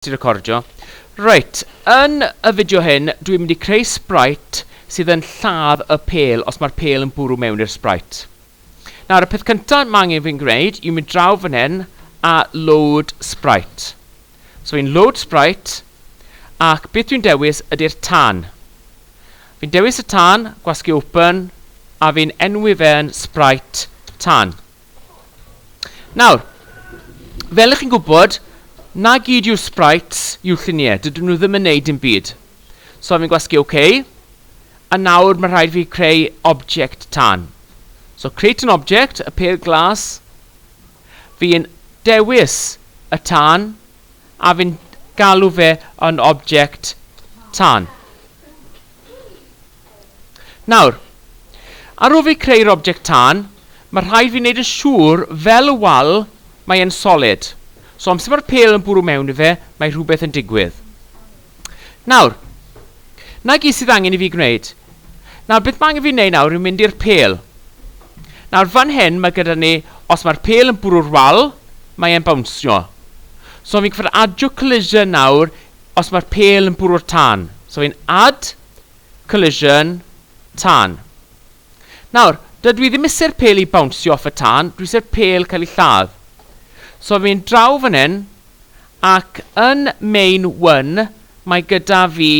Ti recordio? Reit, yn y fideo hyn dwi mynd i creu sprite sydd yn lladd y pêl os mae'r pêl yn bwrw mewn i'r sprite. Nawr y peth cynta mae angen fi'n gwneud yw mynd draw fan hyn a load sprite. So fi'n load sprite ac beth dwi'n dewis ydy'r tân. Fi'n dewis y tân, gwasgu open a fi'n enwi fe'n sprite tân. Nawr, fel ych chi'n gwybod, na gyd yw'r sprites yw'r lluniau, dydyn nhw ddim yn neud dim byd. So fi'n gwasgu OK, a nawr mae rhaid fi creu object tan. So create an object, y pêl glas, fi'n dewis y tan, a fi'n galw fe yn object tan. Nawr, ar ôl fi creu'r object tân, mae rhaid fi wneud yn siŵr fel y wal mae e'n solid. So amser mae'r pêl yn bwrw mewn i fe, mae rhywbeth yn digwydd. Nawr, na gyd sydd angen i fi gwneud. Nawr, beth mae angen fi wneud nawr yw mynd i'r pêl. Nawr, fan hyn mae gyda ni, os mae'r pêl yn bwrw'r wal, mae e'n bawnsio. So fi'n cyfod adio collision nawr os mae'r pêl yn bwrw'r tân. So fi'n add Collision, tân. Nawr, dydw i ddim iser pêl i bawnsio off y tân, dwi iser pêl cael ei lladd. So fi'n draw fan hyn, ac yn main one, mae gyda fi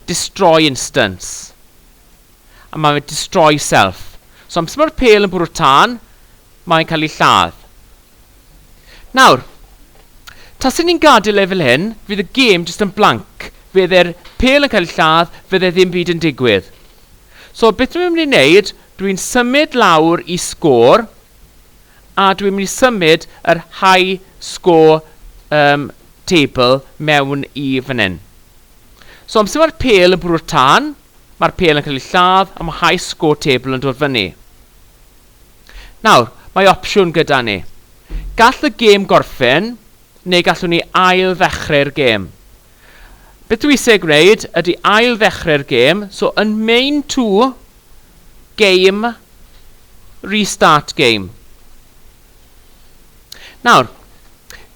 destroy instance. A mae fe destroy self. So amser mae'r pêl yn bwrw tân, mae'n cael ei lladd. Nawr, tase ni'n gadael e fel hyn, fydd y gêm jyst yn blanc. Fydd e'r pêl yn cael ei lladd, fydd e ddim byd yn digwydd. So, beth dwi'n mynd i wneud, dwi'n symud lawr i sgôr, a dwi'n mynd i symud yr high score um, table mewn i fan hyn. So, amser mae'r pêl yn bwrw'r tân, mae'r pêl yn cael ei lladd, a mae high score table yn dod fyny. Nawr, mae opsiwn gyda ni. Gall y gêm gorffen, neu gallwn ni ail-ddechrau'r gêm. Beth dwi eisiau gwneud ydy ail-ddechrau'r gêm, so yn main to, game, restart game. Nawr,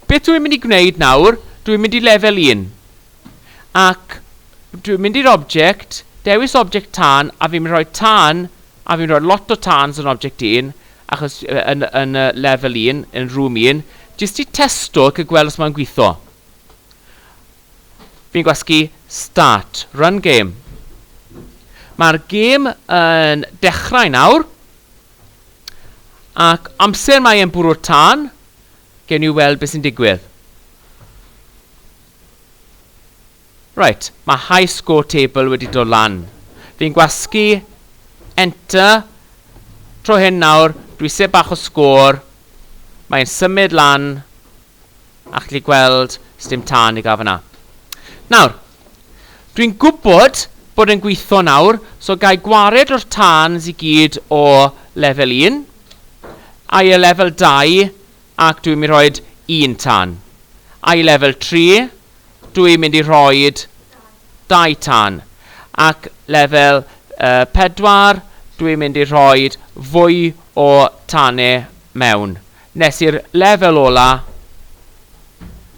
beth dwi'n mynd i gwneud nawr, dwi'n mynd i lefel 1. ac dwi'n mynd i'r object, dewis object tân, a fi'n mynd i rhoi tân, a fi'n rhoi lot o tans yn object un, achos yn, yn uh, level un, yn room un, jyst i testo ac i gweld os mae'n gweithio. Fi'n gwasgu start, run game. Mae'r gêm yn dechrau nawr, ac amser mae e'n bwrw'r tân, gen i weld beth sy'n digwydd. Reit, mae high score table wedi dod lan. Fi'n gwasgu enter tro hyn nawr, dwi eisiau bach o sgôr, mae'n symud lan, a chdi gweld sdim tân i gael fyna. Nawr, dwi'n gwybod bod yn gweithio nawr, so gai gwared o'r tans i gyd o lefel 1, a i y lefel 2, ac dwi'n mynd i rhoid un tan. A i lefel tri, dwi'n mynd i rhoid dau tan. Ac lefel yy pedwar, dwi'n mynd i rhoid fwy o tane mewn. Nes i'r lefel ola,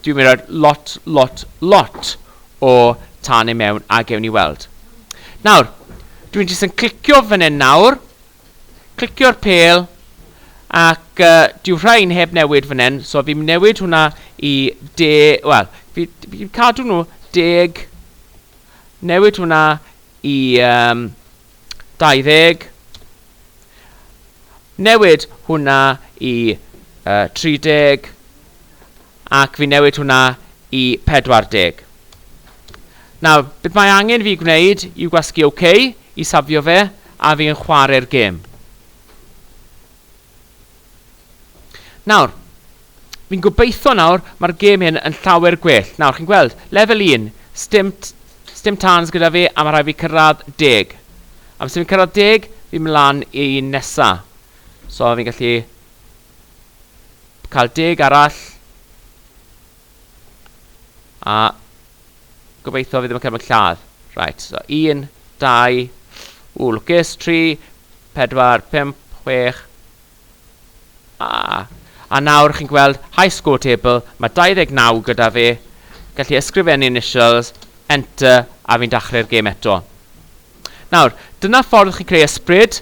dwi'n mynd i roi lot, lot, lot o tane mewn a gewn ni weld. Nawr, dwi'n jyst yn clicio fan hyn nawr. Clicio'r pêl ac uh, dyw rhain heb newid fan hyn, so fi'n newid hwnna i de... Wel, fi'n fi cadw nhw deg, newid hwnna i um, 20, newid hwnna i uh, 30, Ac fi'n newid hwnna i 40. Nawr, beth mae angen fi gwneud yw gwasgu OK i safio fe, a fi'n chware'r gêm. Nawr, fi'n gobeithio nawr mae'r gêm hyn yn llawer gwell. Nawr, chi'n gweld, lefel 1, stim, stim tans gyda fi, a mae rhaid fi cyrraedd deg. Am sy'n fi'n cyrraedd deg, fi'n mlaen i'n nesa. So, fi'n gallu cael deg arall. A gobeithio fi ddim yn cael mynd lladd. Right, so 1, 2, ww, lwcus, 3, 4, 5, 6. A, a nawr chi'n gweld high score table, mae 29 gyda fi. Gallu ysgrifennu initials, enter, a fi'n dachrau'r gêm eto. Nawr, dyna ffordd chi'n creu ysbryd.